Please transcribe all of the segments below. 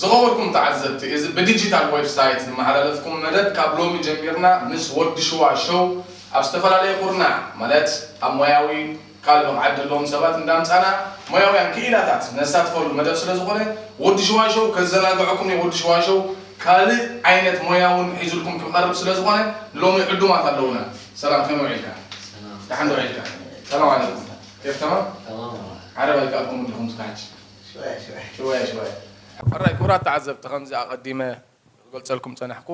ዝኸበርኩም ተዓዘብቲ እዚ ብዲጂታል ዌብሳይት ዝመሓላለፍኩም መደብ ካብ ሎሚ ጀሚርና ምስ ወዲ ሽዋ ሾው ኣብ ዝተፈላለየ ኩርናዕ ማለት ኣብ ሞያዊ ካልእ ብቕዓት ዘለዎም ሰባት እንዳምጻና ሞያውያን ክኢላታት ነሳትፈሉ መደብ ስለ ዝኾነ ወዲ ሽዋ ሾው ከዘናግዐኩም እየ ወዲ ሽዋ ሾው ካልእ ዓይነት ሞያ ውን ሒዙልኩም ክቐርብ ስለ ዝኾነ ንሎሚ ዕዱማት ኣለውና ሰላም ከመይ ውዒልካ ደሓን ዶ ውዒልካ ሰላም ዓለይኩም ኤርትራ ዓረብ ኣይከኣልኩምን ዲኹም ስካሕቲ ሽዋየ ሽዋየ። ሕራይ ክቡራት ተዓዘብቲ ከምዚ ኣቀዲመ ክገልጸልኩም ዝጸናሕኩ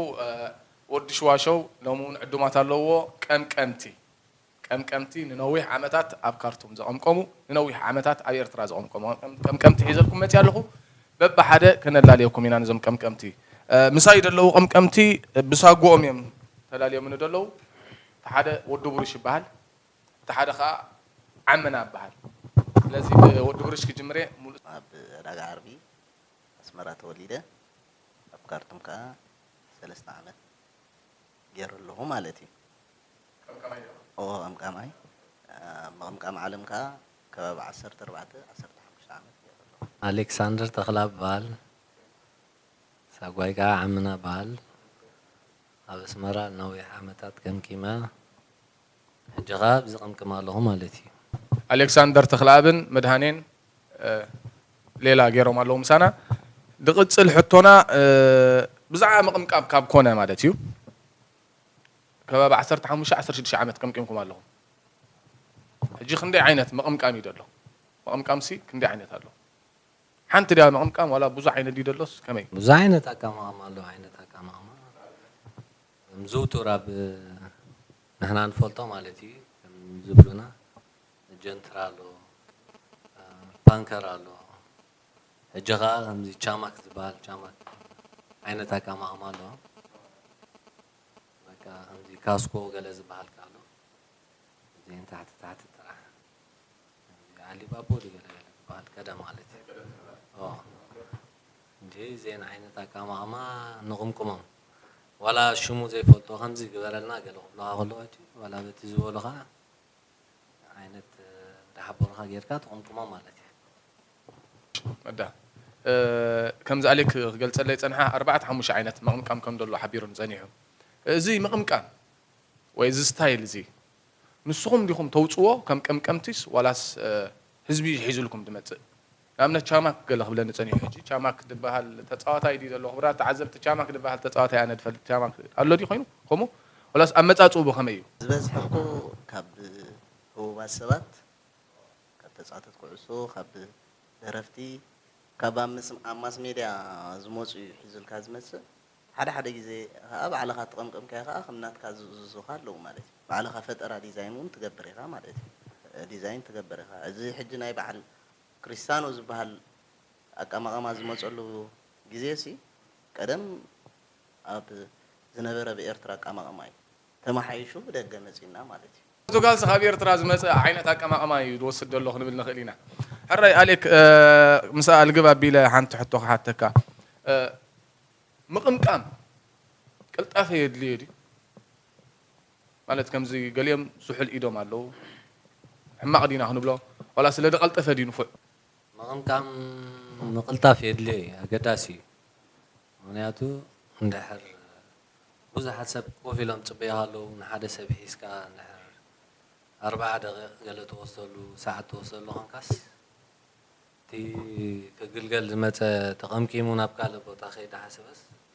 ወዲ ሽዋሸው ሎሚ ውን ዕዱማት ኣለውዎ ቀምቀምቲ ቀምቀምቲ ንነዊሕ ዓመታት ኣብ ካርቱም ዘቀምቀሙ ንነዊሕ ዓመታት ኣብ ኤርትራ ዘቀምቀሙ ቀምቀምቲ ሒዘልኩም መጽያ ኣለኹ በብሓደ ከነላልየኩም ኢና ነዞም ቀምቀምቲ ምሳይ ደለዉ ቀምቀምቲ ብሳጉኦም እዮም ተላልዮምኒ ደለዉ እቲ ሓደ ወዲ ብሩሽ ይበሃል እቲ ሓደ ከኣ ዓመና እበሃል። ስለዚ ብወዲ ብሩሽ ክጅምር'የ። ሙሉእ። ኣብ ዕዳጋ ዓርቢ ኣስመራ ተወሊደ ኣብ ካርቱም ከኣ ሰለስተ ዓመት ጌረ ኣለኹ ማለት እዩ። ቀምቃማይ ዲኻ? እወ ቀምቃማይ። ኣብ ምቕምቃም ዓለም ከኣ ከባቢ ዓሰርተ ኣርባዕተ ዓሰርተ ሓሙሽተ ዓመት ጌረ ኣለኹ። ኣሌክሳንደር ተኽለኣብ እበሃል። ሳጓይ ከኣ ዓመና እበሃል። ኣብ ኣስመራ ንነዊሕ ዓመታት ቀምቂመ። ሕጂ ከኣ ኣብዚ ቅምቅም ኣለኹ ማለት ኢዩ። ኣሌክሳንደር ተኽለኣብን መድሃኔን ሌላ ጌሮም ኣለዉ ምሳና። ዝቕጽል ሕቶና ብዛዕባ ምቕምቃም ካብ ኮነ ማለት እዩ ከባቢ ዓሰርተ ሓሙሽተ ዓሰርተ ሽዱሽተ ዓመት ቀምቂምኩም ኣለኹም ሕጂ ክንደይ ዓይነት ምቕምቃም እዩ ዘሎ ምቕምቃምሲ ክንደይ ዓይነት ኣሎ ሓንቲ ድያ ምቕምቃም ዋላ ብዙሕ ዓይነት ድዩ ዘሎስ ከመይ ብዙሕ ዓይነት ኣቀማቕማ ኣሎ ዓይነት ኣቀማቕማ ከም ዝውቱር ኣብ ንሕና ንፈልጦ ማለት ኢዩ ከም ዝብሉና ጀንትራ ኣሎ ፓንከር ኣሎ ሕጂ ከኣ ከምዚ ቻማክ ዝብሃል ቻማክ ዓይነት ኣቃማቕማ ኣሎ በቃ ከምዚ ካስኮ ገለ ዝብሃል ከኣ ኣሎ እዚኤን ታሕቲ ታሕቲ ጥራሕ ከምዚ ዓሊባቦ ድዩ ገለ ገለ ዝብሃል ቀደም ማለት ኢዩ ኦዎ። እንድዒ እዚኤን ዓይነት ኣቃማቕማ ንቕምቅሞም ዋላ ሽሙ ዘይፈልጦ ከምዚ ግበረልና ገለ ክብሉኻ ከለዉ ኣትዩ ዋላ በቲ ዝበሉኻ ዓይነት እንዳሓበሩኻ ጌርካ ትቕምቅሞም ማለት እያ። መዳ ከምዚ ኣሌክ ክገልጸለይ ዝጸንሐ ኣርባዕተ ሓሙሽተ ዓይነት ምቕምቃም ከም ደሎ ሓቢሩኒ ጸኒሑ። እዚ ምቕምቃም ወይ እዚ ስታይል እዚ ንስኹም ዲኹም ተውጽዎ ከም ቀምቀምቲስ ዋላስ ህዝቢ እዩ ሒዙልኩም ዝመጽእ? ንኣብነት ቻማክ ገለ ክብለኒ ጸኒሑ ሕጂ ቻማክ ድበሃል ተጻዋታይ ድዩ ዘሎ ክቡራት ተዓዘብቲ ቻማክ ድበሃል ተጻዋታይ ኣነ ድፈልጥ ቻማክ ኣሎ ድዩ ኮይኑ ከምኡ ወላስ ኣመጻጽኡ ብከመይ እዩ። ዝበዝሐ እኮ ካብ ህቡባት ሰባት ካብ ተጻወተቲ ኩዕሶ ካብ ደረፍቲ ካብ ኣብ ኣብ ማስ ሜድያ ዝመጹ እዩ ሒዙልካ ዝመጽእ ሓደ ሓደ ግዜ ከኣ ባዕልኻ ተቐምቀምካዮ ከኣ ከም ናትካ ዝእዝዙኻ ኣለዉ ማለት እዩ ባዕልኻ ፈጠራ ዲዛይን ውን ትገብር ኢኻ ማለት እዩ ዲዛይን ትገብር ኢኻ እዚ ሕጂ ናይ በዓል ክሪስታኖ ዝበሃል ኣቀማቕማ ዝመጸሉ ግዜሲ ቀደም ኣብ ዝነበረ ብ ኤርትራ ኣቀማቕማ እዩ ተመሓይሹ ብደገ መጺእና ማለት እዩ። ፖርቱጋልሲ ካብ ኤርትራ ዝመጸ ዓይነት ኣቀማቕማ እዩ ዝወስድ ዘሎ ክንብል ንኽእል ኢና። ሕራይ ኣሌክ ምስ ኣልግብ ኣቢለ ሓንቲ ሕቶ ክሓተካ ምቕምቃም ቅልጣፈ የድልዮ ድዩ? ማለት ከምዚ ገሊኦም ሱሑል ኢዶም ኣለዉ ሕማቅ ዲና ክንብሎ ዋላ ስለ ደቀልጠፈ ድዩ ንፉዕ። ምቕምቃም ምቕልጣፍ የድልዮ እዩ ኣገዳሲ እዩ ምኽንያቱ እንድሕር ብዙሓት ሰብ ኮፍ ኢሎም ዝጽበዩኻ ኣለዉ ንሓደ ሰብ ሒዝካ እንድሕር ኣርብዓ ደቒቕ ገለ ትወስደሉ ሰዓት ትወስደሉ ኮንካስ እቲ ክግልገል ዝመጸ ተቐምቂሙ ናብ ካልእ ቦታ ከይተሓሰበስ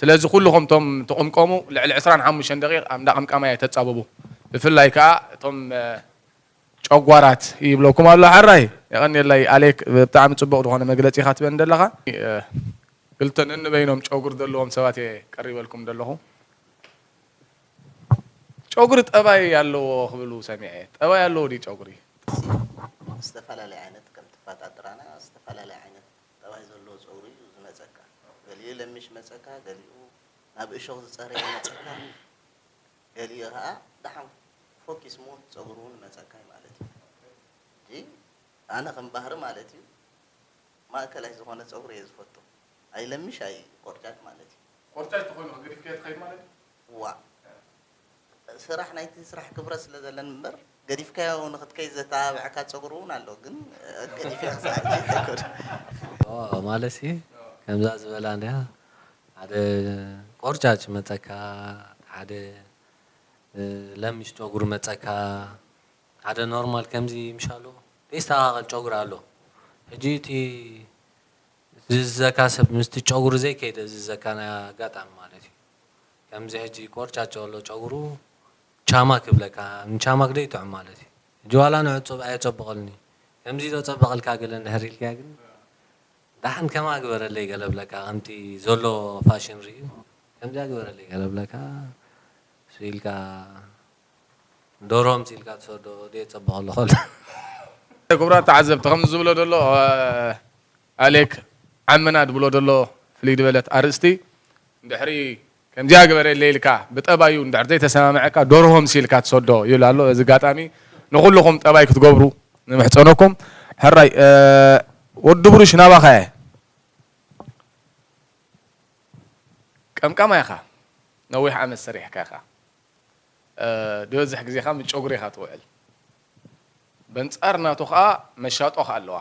ስለዚ ኩሉኹም እቶም ትቕምቀሙ ልዕሊ ዕስራን ሓሙሽተን ደቒቕ ኣብ እንዳ ቀምቃማይ ኣይተጻበቡ ብፍላይ ከኣ እቶም ጨጓራት ይብለኩም ኣሎ ሐራይ። የቐንየለይ ኣሌክ ብጣዕሚ ጽቡቕ ዝኾነ መግለጺ ኢኻ ትበኒ ደለኻ። ክልተ ነንበይኖም ጨጉሪ ዘለዎም ሰባት እየ ቀሪበልኩም ደለኹ። ጨጉሪ ጠባይ ኣለዎ ክብሉ ሰሚዐ ጠባይ ኣለዎ ድዩ ጨጉሪ? ዝተፈላለዩ ዓይነት ከም ትፋጣ ጥራና ዝተፈላለዩ ዓይነት። ጠባይ ዘለዎ ጸጉሪ እዩ ዝመጸካ ገሊኡ ለሚሽ መጸካ ገሊኡ ናብ እሾኽ ዝጸረየ ይመጸካ ገሊኡ ከኣ ደሓን ፎኪ ስሙት ጸጉሪ እውን ይመጸካ እዩ ማለት እዩ ሕጂ ኣነ ከም ባህሪ ማለት እዩ ማእከላይ ዝኾነ ጸጉሪ እየ ዝፈቱ ኣይ ለሚሽ ኣይ ቆርጫጭ ማለት እዩ ቆርጫጭ ተኾይኑ ገዲፍካዮ ትኸይድ ማለት እዩ ዋእ ስራሕ ናይቲ ስራሕ ክብረት ስለ ዘለን እምበር ገዲፍካዮ ንክትከይድ ዘተባብዐካ ጸጉሪ ውን ኣሎ ግን ገዲፈዮ ክሳዕ ሕጂ ኣይከድኩን። ኦእ ማለትሲ ከምዛ ዝበላ እንድያ ሓደ ቆርጫጭ መጸካ ሓደ ለሚሽ ጨጉሪ መጸካ ሓደ ኖርማል ከምዚ ምሻሉ ደይስተካከል ጨጉሪ ኣሎ ሕጂ እቲ ዝእዝዘካ ሰብ ምስቲ ጨጉሪ ዘይከይደ ዝእዝዘካ ናይ ኣጋጣሚ ማለት እዩ ከምዚ ሕጂ ቆርጫጭ ኣሎ ጨጉሩ ቻማ ክብለካ ንቻማ ግደ ይጥዑም ማለት እዩ ሕጂ ዋላ ንዕጹብ ኣየጸብቀሉን እዩ ከምዚ ዶ ጸበቀልካ ገለ እንድሕር ኢልካዮ ግን ዳሓን ከምኣ ግበረለይ ገለ ብለካ ከምቲ ዘሎ ፋሽን ሪኡ ከምዚኣ ግበረለይ ገለ ብለካ ሱይ ኢልካ ዶርሆ ኣምጺልካ ትሰዶ ዶ የጸብቀሉ ከሎ። ክቡራት ተዓዘብቲ ከምዚ ዝብሎ ዘሎ ኣሌክ ዓምና ድብሎ ደሎ ፍልይ ድበለት ኣርእስቲ እንድሕሪ ከምዚኣ ግበረለይ ኢልካ ብጠባዩ እንድሕር ዘይተሰማምዐካ ደርሆ ምሲልካ ትሰዶ ይብል ኣሎ በዚ ኣጋጣሚ ንኩሉኩም ጠባይ ክትገብሩ ንምሕጸነኩም ሕራይ ወዲ ብሩሽ ናባካ እየ ቀምቃማይ ኢካ ነዊሕ ዓመት ሰሪሕካ ኢካ ድበዝሕ ግዜ ከኣ ምስ ጨጉሪ ኢካ ትውዕል በንጻር ናቱ ከኣ መሻጦ ከኣ ኣለዋ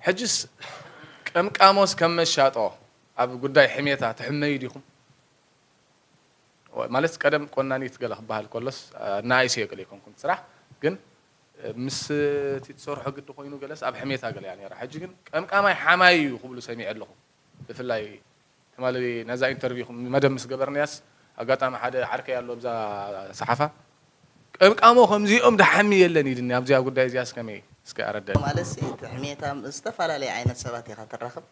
ሕጅስ ቀምቃሞስ ከም መሻጦ ኣብ ጉዳይ ሕሜታ ትሕመዩ ዲኹም ማለት ቀደም ቆናኒት ገለ ክበሃል ከሎስ ኣናኣይሰዮ ገለ ኣይኮንኩን ስራሕ ግን ምስ እቲ ትሰርሖ ግዲ ኮይኑ ገለስ ኣብ ሕሜታ ገለ እያ ኔራ ሕጂ ግን ቀምቃማይ ሓማይ እዩ ክብሉ ሰሚዐ ኣለኹ ብፍላይ ትማሊ ነዛ ኢንተርቪው መደብ ምስ ገበርንያስ ኣጋጣሚ ሓደ ዓርከይ ኣሎ ኣብዛ ሰሓፋ ቀምቃሞ ከምዚኦም ደሓሚ የለን ኢልኒ ኣብዚኣ ጉዳይ እዚኣስ ከመይ እስከ ኣረደኒ። ማለትሲ እቲ ሕሜት ኣብ ዝተፈላለየ ዓይነት ሰባት ኢኻ ትራኽብ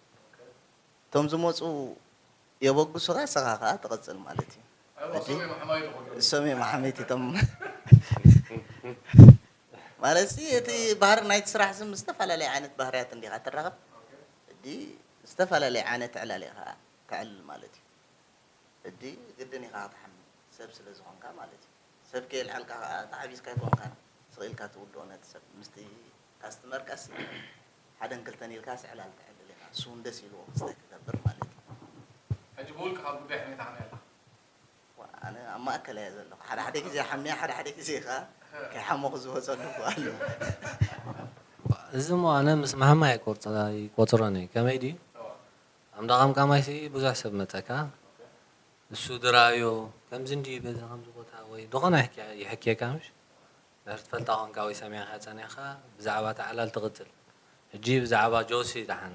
እቶም ዝመጹ የበግሱኻ እስኻ ከኣ ትቕጽል ማለት እዩ ሕጂ እሶም እዮም ኣሕመይቲ እቶም ማለትሲ እቲ ባህሪ ናይቲ ስራሕ ዝም ዝተፈላለየ ዓይነት ባህርያት እንዲኻ ትራኽብ። እዲ ዝተፈላለየ ዓነት ዕላል ኢኻ ተዕልል ማለት እዩ እዲ ግድን ኢኻ ክትሓሚ ሰብ ስለ ዝኾንካ ማለት እዩ ሰብ ከየልዓልካ ከኣ ተዓቢስካ ኣይኮንካን ስቅ ኢልካ ትውድኦ ነቲ ሰብ ምስቲ ካስትመርካሲ ሓደን ክልተን ኢልካስ ዕላል ተዕልል ኢኻ ንሱ ውን ደስ ኢልዎ ክስተ ክገብር ማለት እዩ ሕጂ ብውልቅኻ ጉዳይ ሕሚታ ክንያ ኣለኻ። ኣነ ኣብ ማእከል እየ ዘለኹ፣ ሓደ ሓደ ግዜ ሓምየ ሓደ ሓደ ግዜ ከኣ ከይሓመኹ ዝወጸሉ እኳ ኣሎ። እዚ እሞ ኣነ ምስ ማህማይ ኣይቆጽሮን እየ ከመይ ድዩ ኣብ እንዳ ቀምቃማይ ሲ ብዙሕ ሰብ መጸካ ንሱ ድራኣዮ ከምዚ እንድዩ በዚ ከምዚ ቦታ ወይ ድኾነ ይሕኪየካ ምሽ ድሕሪ ትፈልጣ ኮንካ ወይ ሰሚዕካ ጸኒሕካ ብዛዕባ እቲ ዓላል ትቅጽል ሕጂ ብዛዕባ ጆሲ ድሓን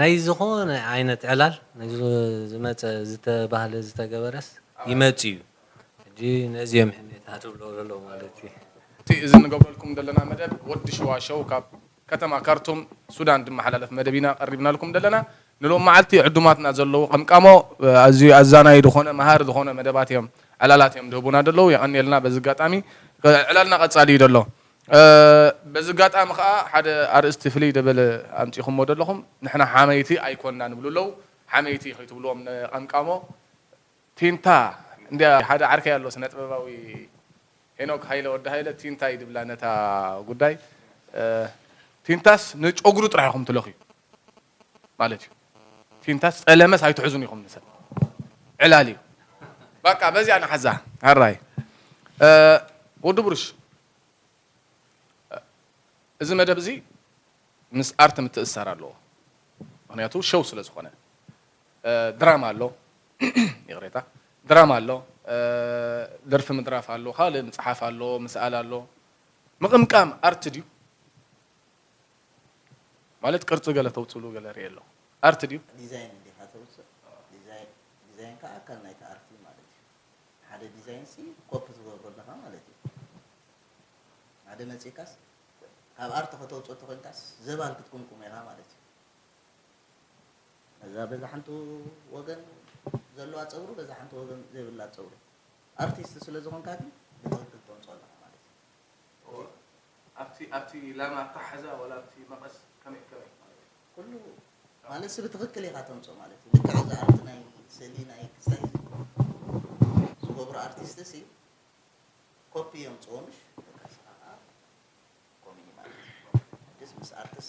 ናይ ዝኾነ ዓይነት ዕላል ነዚ ዝመጸ ዝተባህለ ዝተገበረስ ይመጽእ እዩ ሕጂ ነዚ እዮም ሕሜታ ትብሎ ዘለዉ ማለት እዩ። እቲ እዚ ንገብረልኩም ደለና መደብ ወዲ ሽዋ ሸው ካብ ከተማ ካርቱም ሱዳን ድመሓላለፍ መደብ ኢና ቀሪብናልኩም ደለና ንሎም መዓልቲ ዕዱማትና ዘለዉ ቀምቃሞ ኣዝዩ ኣዛናዪ ድኾነ መሃሪ ዝኾነ መደባት እዮም ዕላላት እዮም ድህቡና ደለዉ የቀንየልና በዚ ኣጋጣሚ ዕላልና ቀጻሊ እዩ ደሎ በዚ ኣጋጣሚ ከኣ ሓደ ኣርእስቲ ፍልይ ደበለ ኣምጺኹሞ ደለኹም ንሕና ሓመይቲ ኣይኮናን ይብሉ ኣለዉ ሓመይቲ ከይትብልዎም ንቀምቃሞ ቲንታ እንድያ ሓደ ዓርከይ ኣሎ ስነጥበባዊ ሄኖክ ሃይለ ወዲ ሃይለ ቲንታ እዩ ድብላ ነታ ጉዳይ ቲንታስ ንጮግሩ ጥራሕ ኢኹም ትለኽዩ ማለት እዩ ፊንታስ ጸለመስ ኣይትሕዙን ኢኹም ንሰብ ዕላል እዩ በቃ በዚኣ ንሓዛ ሃራይ ወዲ ብሩሽ እዚ መደብ እዚ ምስ ኣርት ምትእሳር ኣለዎ ምክንያቱ ሸው ስለ ዝኾነ ድራማ ኣሎ ይቕሬታ ድራማ ኣሎ ደርፊ ምድራፍ ኣሎ ካልእ ምፅሓፍ ኣሎ ምስኣል ኣሎ ምቕምቃም ኣርት ድዩ ማለት ቅርጺ ገለ ተውጽሉ ገለ ሪኤ ኣለኩ ኣርት ድዩ። ዲዛይን እንዲኻ ተውጽእ ዲዛይን ከኣ ኣካል ናይቲ ኣርት እዩ ማለት እዩ ሓደ ዲዛይን ሲ ኮፒ ትገብሮ ኣለኻ ማለት እዩ ሓደ መጺእካስ ካብ ኣርት ከተውጽኦ ተኮንካስ ዘባን ክትቁምቁሞ ኢኻ ማለት እዩ እዛ በዛ ሓንቲ ወገን ዘለዋ ፀጉሪ በዛ ሓንቲ ወገን ዘይብላ ፀጉሪ ኣርቲስት ስለ ዝኾንካ ግን ብትኽክል ተምፅኦ ኣለካ ማለት እዩ ኣብቲ ኣብቲ ላማ ኣታሓሕዛ ወላ ኣብቲ መቐስ ከመይ ከመይ ማለት እዩ። ኩሉ ማለትሲ ብትኽክል ኢኻ ተምጽኦ ማለት እዩ። ልክዕ እዚ ኣብቲ ናይ ስእሊ ናይ ክስታይ ዝገብሩ ኣርቲስትሲ ኮፒ የምጽኡ ምሽ ደቀስኻ ከኣ ኮሚኒ ማለት እዩ። ኣድስ ምስ ኣርትሲ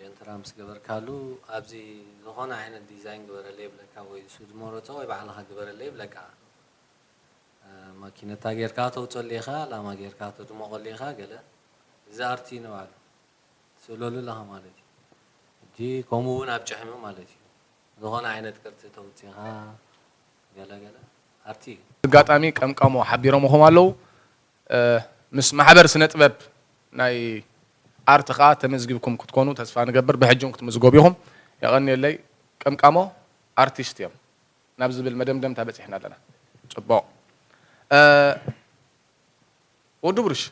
ጀንትራ ምስ ገበርካሉ ኣብዚ ዝኾነ ዓይነት ዲዛይን ግበረለይ ይብለካ ወይ ሱድ ሞሮጾ ወይ ባዕልኻ ግበረለይ ይብለካ ማኪነታ ጌርካ ተውጸሉ ኢኻ ላማ ጌርካ ተድሞቐሉ ኢኻ ገለ እዚ ኣርት ንባዕሉ ትስእለሉ ኣለኻ ማለት እዩ ሕጂ ከምኡ እውን ኣብ ጭሕሚ ማለት እዩ ዝኾነ ዓይነት ቅርጺ ተውጺኻ ገለ ገለ ኣርት እዩ። ብጋጣሚ ቀምቃሞ ሓቢሮምኹም ኣለዉ። ምስ ማሕበር ስነጥበብ ናይ ኣርት ከኣ ተመዝጊብኩም ክትኮኑ ተስፋ ንገብር ብሕጂ ውን ክትምዝገቡ ኢኹም የቐንየለይ ቀምቃሞ ኣርቲስት እዮም ናብ ዝብል መደምደምታ በጺሕና ኣለና ጽቡቕ ወዲ ብሩሽ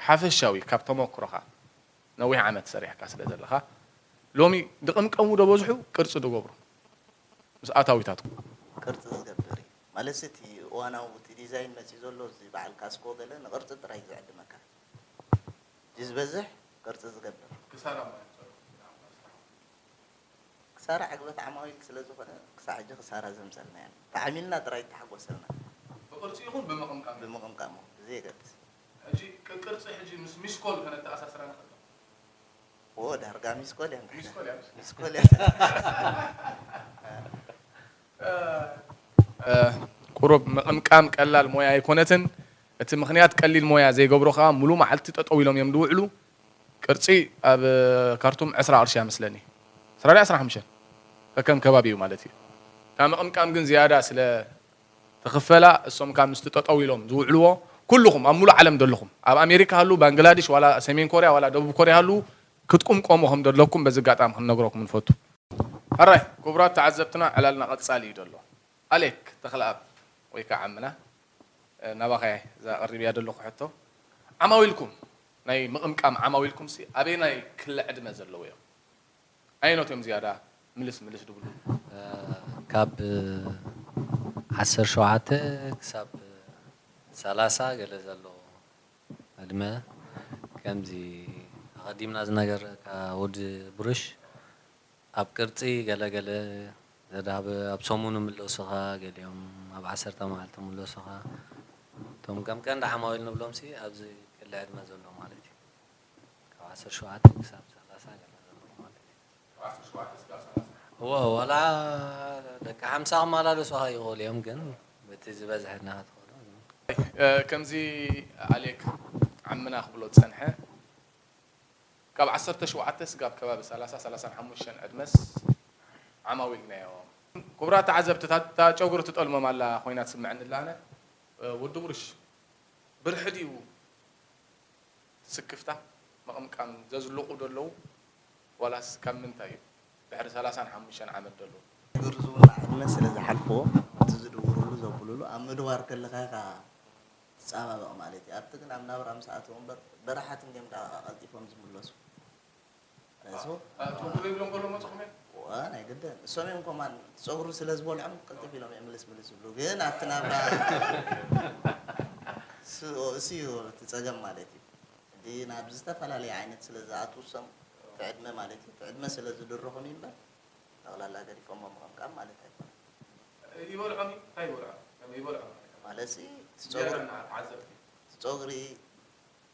ሓፈሻዊ ካብ ተሞክሮኻ ነዊሕ ዓመት ሰሪሕካ ስለ ዘለኻ ሎሚ ድቕምቀሙ ዶ በዝሑ ቅርጺ ዶ ገብሩ ምስ ኣታዊታትኩም ቅርጺ ዝገብር እዩ ማለትሲ እቲ እዋናዊ እቲ ዲዛይን መፂኡ ዘሎ እዚ በዓል ካስኮ ገለ ንቅርፂ ጥራይ ዝዕድመካ እዩ ዝበዝሕ ቅርፂ ዝገብር። ክሳራ ማይ ፀሎት እዩ ንኣምላኽ ስርሓቱ። ክሳራ ዕግበት ዓማዊል ስለ ዝኾነ ክሳዕ ሕጂ ክሳራ ዘምፀልና የለን ተዓሚልና ጥራይ ተሓጎሰልና። ብቅርፂ ይኹን ብምቕምቃም ይኹን። ብምቕምቃም ይኹን ብዘየገድስ። ሕጂ ቅቅርፂ ሕጂ ምስ ሚስኮል ከነተኣሳስራ ንኽእል ዶ? ኦዎ ዳርጋ ሚስኮል እያ ንድሕና። ሚስኮል እያ ምስ። ሚስኮል እያ። ቁሩብ ምቕምቃም ቀላል ሞያ ኣይኮነትን፣ እቲ ምኽንያት ቀሊል ሞያ ዘይገብሮ ከኣ ምሉእ መዓልቲ ጠጠው ኢሎም እዮም ዝውዕሉ፣ ቅርጺ ኣብ ካርቱም ዕስራ ቅርሺ እያ መስለኒ፣ ዕስራ ድያ ዕስራን ሓሙሽተን ከከም ከባቢኡ ማለት እዩ፣ እታ ምቕምቃም ግን ዝያዳ ስለ ትኽፈላ እሶም ከኣ ምስቲ ጠጠው ኢሎም ዝውዕልዎ ኩሉኹም ኣብ ምሉእ ዓለም ዘለኹም ኣብ ኣሜሪካ ሃልው ባንግላድሽ ዋላ ሰሜን ኮርያ ዋላ ደቡብ ኮርያ ሃልው ክትቁምቆሙ ከም ደለኩም በዚ ኣጋጣሚ ክንነግረኩም ንፈቱ። ሕራይ ኩቡራት ተዓዘብትና ዕላልና ቀጻሊ እዩ ደሎ ኣሌክ ተክለኣብ ወይ ከኣ ዓምና ናባካ እየ እዛ ኣቀሪበያ ደለኩ ሕቶ ዓማዊልኩም ናይ ምቅምቃም ዓማዊልኩምሲ ኣበየናይ ክሊ ዕድመ ዘለዉ እዮም ኣየኖት እዮም ዝያዳ ምልስ ምልስ ድብሉ ካብ ዓሰርተ ሸውዓተ ክሳብ ሰላሳ ገለ ዘሎ። ኣድመ ከምዚ ኣቀዲምና ዝነገርናካ ወዲ ብሩሽ ኣብ ቅርጺ ገለ ገለ ዘዳብ ኣብ ሰሙን ይምለሱኻ ገሊኦም ኣብ ዓሰርተ መዓልቲ ይምለሱኻ እቶም ከም ቀንዲ ዓማዊል ንብሎምሲ ኣብዚ ክሊ ዕድመ ዘሎ ማለት እዩ ካብ ዓሰርተ ሸውዓተ ክሳብ ሰላሳ ገለ ዘለዉ ማለት እዩ። እወ ዋላ ደቂ ሓምሳ ክመላለሱኻ ይኽእሉ እዮም ግን በቲ ዝበዝሐ እና ክትኸዶ ከምዚ ኣሌክ ዓምና ክብሎ ዝጸንሐ ካብ ዓሰርተ ሸውዓተ ስጋብ ከባቢ ሰላሳ ሰላሳን ሓሙሽተን ዕድመስ ዓማዊልናዮ። ክቡራት ተዓዘብቲ እታ ጨጉሪ ትጠልሞም ኣላ ኮይና ትስመዐኒ ኣላ ኣነ ወዲ ጉርሽ ብርሒ ድዩ? ስክፍታ ምቕምቃም ዘዝልቑ ዶ ኣለዉ ዋላስ ካብ ምንታይ እዩ ድሕሪ ሰላሳን ሓሙሽተን ዓመት ዶ ኣለዉ? ዝግርዝዎ ንኣብነት ስለ ዝሓልፍዎ እቲ ዝድውርሉ ዘብሉሉ ኣብ ምድዋር ከለኻ ኢኻ ትጻባበቕ ማለት እዩ ኣብቲ ግን ኣብ ናብራ ምስ ኣተዉ እምበር በራሓትን ገም ደቓቓ ቀልጢፎም ዝምለሱ። ናይዝቦ ቶንዶ ዘይብሎም ከሎ መፅኹም እዮም ናይ ግድን እሶም እዮም ኮማን ፀጉሪ ስለ ዝበልዖም ቅልጥፍ ኢሎም እዮም ምልስ ምልስ ዝብሉ ግን ኣብቲ ናብራ እሱ እዩ እቲ ፀገም ማለት እዩ እቲ ናብ ዝተፈላለየ ዓይነት ስለ ዝኣትዉ እሶም እቲ ዕድመ ማለት እዩ እቲ ዕድመ ስለ ዝድርኹም እዩ እምበር ጠቕላላ ገዲፎሞ ምቕምቃም ማለት ኣይኮነ ይበልዖም እዩ እንታይ ይበልዖም ይበልዖም ማለት እቲ ፀጉሪ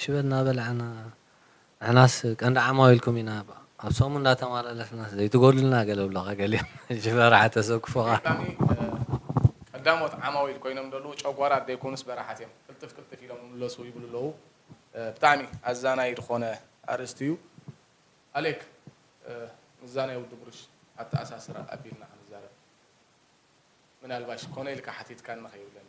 ሽበት ናበላዕና ንሕናስ ቀንዲ ዓማዊልኩም ኢና ኣብ ሰሙን እንዳተማላለስናስ ዘይትጎድሉና ገለ ብሎኻ ገሊኦም እሺ በራሓ ተሰክፉኻ። ኣጋጣሚ ቀዳሞት ዓማዊል ኮይኖም ደለዉ ጨጓራት ደይኮኑስ በራሓት እዮም ቅልጥፍ ቅልጥፍ ኢሎም ይምለሱ ይብሉ ኣለዉ ብጣዕሚ ኣዛናዪ ድኾነ ኣርእስቲ እዩ ኣሌክ ምስዛ ናይ ወዲ ብሩሽ ኣተኣሳስራ ኣቢልና ክንዛረብ ምናልባሽ ኮነ ኢልካ ሓቲትካኒ ከይብለኒ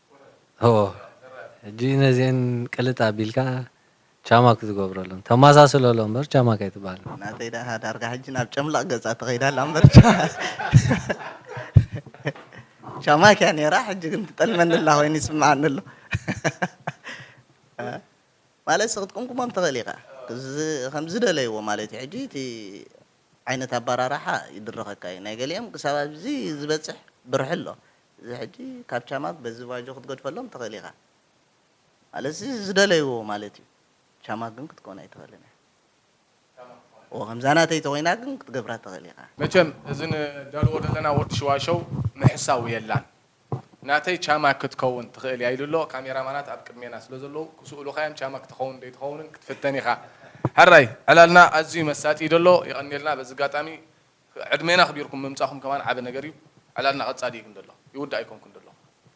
ሆ ሕጂ ነዚኤን ቅልጥ ኣቢልካ ቻማክ ዝገብረሎም ተማሳስለሎ እምበር ቻማክ ኣይትበሃልን። ናተይ ደኣ ዳርጋ ሕጂ ናብ ጨምላቕ ገጻ ተኸይዳ ኣላ እምበር ቻማክ እያ ኔራ ሕጂ ግን ትጠልመኒ ኣላ ኮይኑ ይስምዓኒ ኣሎ። ማለትሲ ክትቅምቅሞም ትኽእል ኢኻ ከም ዝደለይዎ ማለት እዩ ሕጂ እቲ ዓይነት ኣባራርሓ ይድርኸካ እዩ ናይ ገሊኦም ክሳብ ኣብዚ ዝበጽሕ ብርሒ ኣሎ እዚ ሕጂ ካብ ቻማት በዚ ቫጆ ክትገድፈሎም ትኽእል ኢኻ ማለትሲ ዝደለይዎ ማለት እዩ ቻማ ግን ክትከውን ኣይትኽእልን ኢኻ እወ ከምዛ ናተይ ተኾይና ግን ክትገብራ ትኽእል ኢኻ። መቸም እዚ ንደልዎ ደለና ወዲ ሽዋሸው ምሕሳው የላን ናተይ ቻማ ክትከውን ትኽእል እያ ኢሉ ኣሎ ካሜራ ማናት ኣብ ቅድሜና ስለ ዘለዉ ክስእሉኻ እዮም ቻማ ክትኸውን ደይትኸውንን ክትፍተን ኢኻ። ሕራይ ዕላልና ኣዝዩ መሳጢ እዩ ደሎ የቐንየልና በዚ ኣጋጣሚ ዕድሜና ኣኽቢርኩም ምምጻኹም ከማን ዓቢ ነገር እዩ። ዕላልና ቀጻሊ እዩ ግን ደሎ ይውዳእ ኣይኮንኩን ደሎ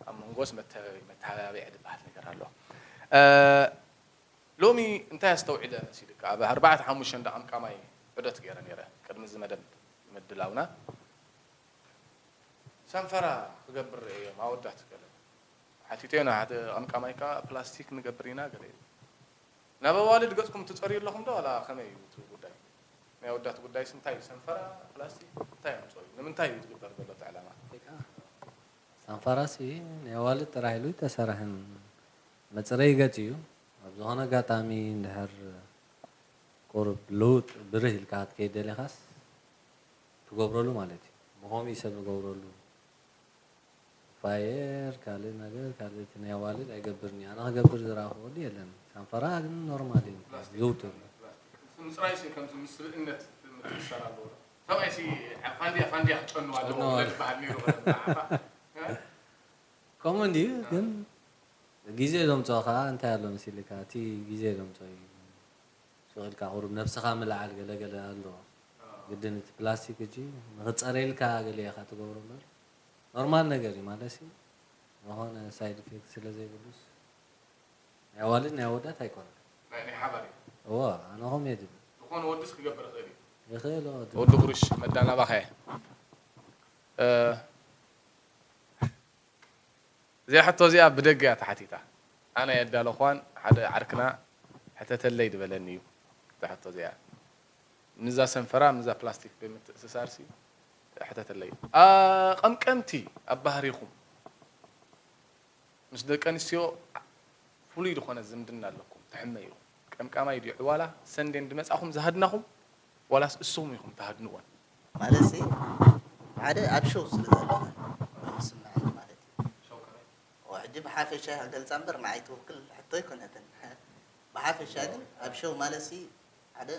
ኣብ መንጎስ መተበቢ መተሃባብዒ ድበሃል ነገር ኣሎ። ሎሚ እንታይ ኣስተውዒለ መሲልካ ኣብ ኣርባዕተ ሓሙሽተ እንዳ ቀምቃማይ ዑደት ገይረ ነይረ ቅድሚ እዚ መደብ ምድላውና ሰንፈራ ክገብር ርእየዮም ኣወዳት ገለ ሓቲተዮ ንሓደ ቀምቃማይ ከኣ ፕላስቲክ ንገብር ኢና ገለ ኢሉ። ናብ ኣዋልድ ገጽኩም ትጸርዩ ኣለኹም ዶ ዋላ ከመይ እዩ እቲ ጉዳይ ናይ ኣወዳት ጉዳይስ እንታይ እዩ ሰንፈራ ፕላስቲክ እንታይ ኣምጽኦ እዩ ንምንታይ እዩ ዝግበር ዘሎ እቲ ዕላማ። ሰንፈራሲ ናይ ኣዋልድ ጥራይ ኢሉ ኣይተሰርሐን መጽረዪ ገጽ እዩ ኣብ ዝኾነ ኣጋጣሚ እንድሕር ቁሩብ ልውጥ ብርህ ኢልካ ክትከይድ ደሊኻስ ትገብረሉ ማለት እዩ ብኸምኡ እዩ ሰብ ዝገብረሉ። ፋየር ካልእ ነገር ካልእ እቲ ናይ ኣዋልድ ኣይገብርን እዩ ኣነ ክገብር ዝረኣኹ ወዲ የለን ሻንፈራ ግን ኖርማል እዩ ዝውቱር እዩ። ምጽራይሲ ከምዚ ምስ ስብእነት ምትእስሳር ኣለዎ ዶ? ሰብኣይሲ ኣብ ፋንድያ ፋንድያ ክጨኑ ኣለዎም ዶ ዝበሃል ኔሩ ብዓኻ? ከምኡ እንድዩ ግን ግዜ ዘምጽኦ ከኣ እንታይ ኣሎ መሲልካ እቲ ግዜ ዘምጽኦ እዩ ስቕ ኢልካ ቁሩብ ነብስኻ ምልዓል ገለ ገለ ኣሎ ግድን እቲ ፕላስቲክ ሕጂ ንኽጸርየልካ ገለ ኢኻ ትገብሮ እምበር ኖርማል ነገር እዩ ማለትሲ ዝኮነ ሳይድ ኢፌክት ስለ ዘይብሉስ ናይ ኣዋልድ ናይ ኣወዳት ኣይኮነን ናይ ናይ ሓባር እዩ እወ ኣነ ከምኡ እየ ዝብል ዝኮነ ወድስ ክገብር ይክእል እዩ ይክእል እወ ወዲ ድምጺ ጉሩሽ መዳ ናባካ እየ እዚኣ ሕቶ እዚኣ ብደገ እያ ተሓቲታ ኣነ ኣየዳለኩዋን ሓደ ዓርክና ሕተተለይ ድበለኒ እዩ እዛ ሕቶ እዚኣ። ንዛ ሰንፈራ ምዛ ፕላስቲክ ብምትእስሳርሲ ሕተተለይ ኣቀምቀምቲ ኣብ ባህሪኩም ምስ ደቂ ኣንስትዮ ፍሉይ ድኮነ ዝምድና ኣለኩም ትሕመዩ ቀምቃማይ ድዩ ዕዋላ ሰንዴ እንድመጻኩም ዝሃድናኩም ዋላስ እሱኩም ኢኩም ትሃድንወን ማለትሲ ሓደ ኣብ ሸው ስለ ዘለና ዝስምዐኒ ማለት እዩ ሕጂ ብሓፈሻ እያ ገልጻ እምበር ንዓይ ትውክል ሕቶ ኣይኮነትን ብሓፈሻ ግን ኣብ ሸው ማለትሲ ሓደ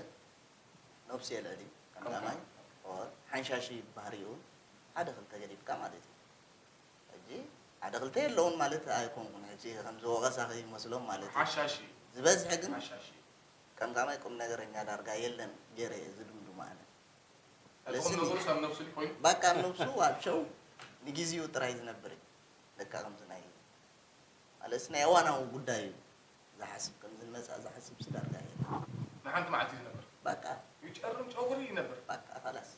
ነብሱ የልዕል እዩ ቀዳማይ ኦር ሓንሻሺ ባህሪኡ ሓደ ክልተ ገዲፍካ ማለት እዩ ሕጂ ሓደ ክልተ የለውን ማለት ኣይኮንኩን ሕጂ ከምዚ ወቀሳ ከይመስሎም ማለት እዩ ሓሻሺ ዝበዝሐ ግን ሓሻሺ ቀምቃማይ ቁም ነገረኛ ዳርጋ የለን ገይረ እየ ዝድምድሞ ኣነ እቲ ቁም ነገሩ ሰብ ነብሱ ድዩ ኮይኑ በቃ ኣብ ነብሱ ኣብ ሸው ንግዜኡ ጥራይ ዝነብር እዩ ለካ ከምዚ ናይ ማለትስ ናይ እዋናዊ ጉዳይ እዩ ዝሓስብ ከምዚ ንመጻኢ ዝሓስብሲ ዳርጋ የለን። ንሓንቲ መዓልቲ ይነብር። ባቃ። ይጨርም ጨጉሪ ይነብር። ባቃ ኸላስ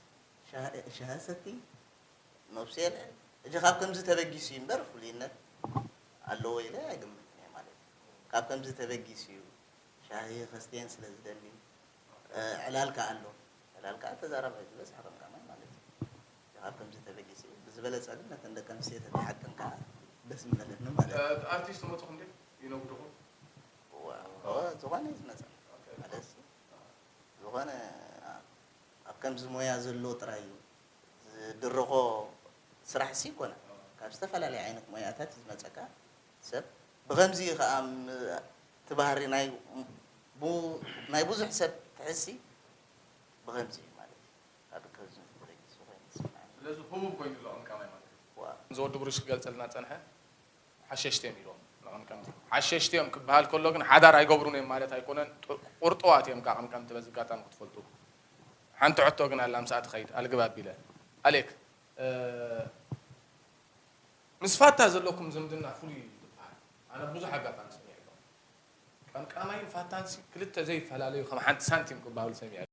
ሻሂ ሻሂ ሰቲ ነብሱ የልዕል ሕጂ ካብ ከምዚ ተበጊሱ እዩ እምበር ፍሉይነት ኣለዎ ኢለ ኣይግምትን እየ ማለት ካብ ከምዚ ተበጊሱ እዩ ሻሂ ከስትየን ስለ ዝደሊ ዕላል ከኣ ኣሎ ዕላል ከኣ ተዛራባይ ዝበዝሐ ከምካ ማይ ማለት እዩ። ኣብ ከምዚ ተበጊሱ ብዝበለጸ ግን ነተን ደቂ ኣንስትዮ ተተሓተን ከኣ ደስ ምበለኒ ማለት እዩ። እቲ ኣርቲስት ተመጽኹም ድዩ ይነጉድኹም? እወ ዝኾነ እዩ ዝመጸኒ ማለትሲ ዝኾነ ኣብ ከምዚ ሞያ ዘሎ ጥራይ እዩ ዝድርኾ ስራሕሲ ኣይኮነን ካብ ዝተፈላለየ ዓይነት ሞያታት እዩ ዝመጸካ ሰብ ብኸምዚ እዩ ከኣ እቲ ባህሪ ናይ ናይ ብዙሕ ሰብ ትሕዝሲ ብኸምዚ እዩ። ኣዶ ተዝን ፍቅሪ ንሱ ኮይኑ ይስምዐኒ። ስለዚ ህቡብ ኮይኑ ኣሎ ቀምቃማይ ማለት እዩ። ዋእ። ከምዝወዲ ብሩሽ ክገልጸልና ዝጸንሐ ሓሸሽቲ እዮም ኢልዎም ንቀምቀምቲ። ሓሸሽቲ እዮም ክበሃል ከሎ ግን ሓዳር ኣይገብሩን እዮም ማለት ኣይኮነን ቁርጡዋት እዮም ካብ ቀምቀምቲ በዚ ኣጋጣሚ ክትፈልጡ። ሓንቲ ሕቶ ግን ኣላ ምስኣ ትኸይድ ኣልግብ ኣቢለ። ኣሌክ ምስ ፋታ ዘለኩም ዝምድና ፍሉይ እዩ ዝበሃል ኣነ ኣብ ብዙሕ ኣጋጣሚ ሰሚዐ ኣለኹ። ቀምቃማይን ፋታንሲ ክልተ ዘይፈላለዩ ከም ሓንቲ ሳንቲም ክበሃሉ ሰሚዐ ኣለኹ።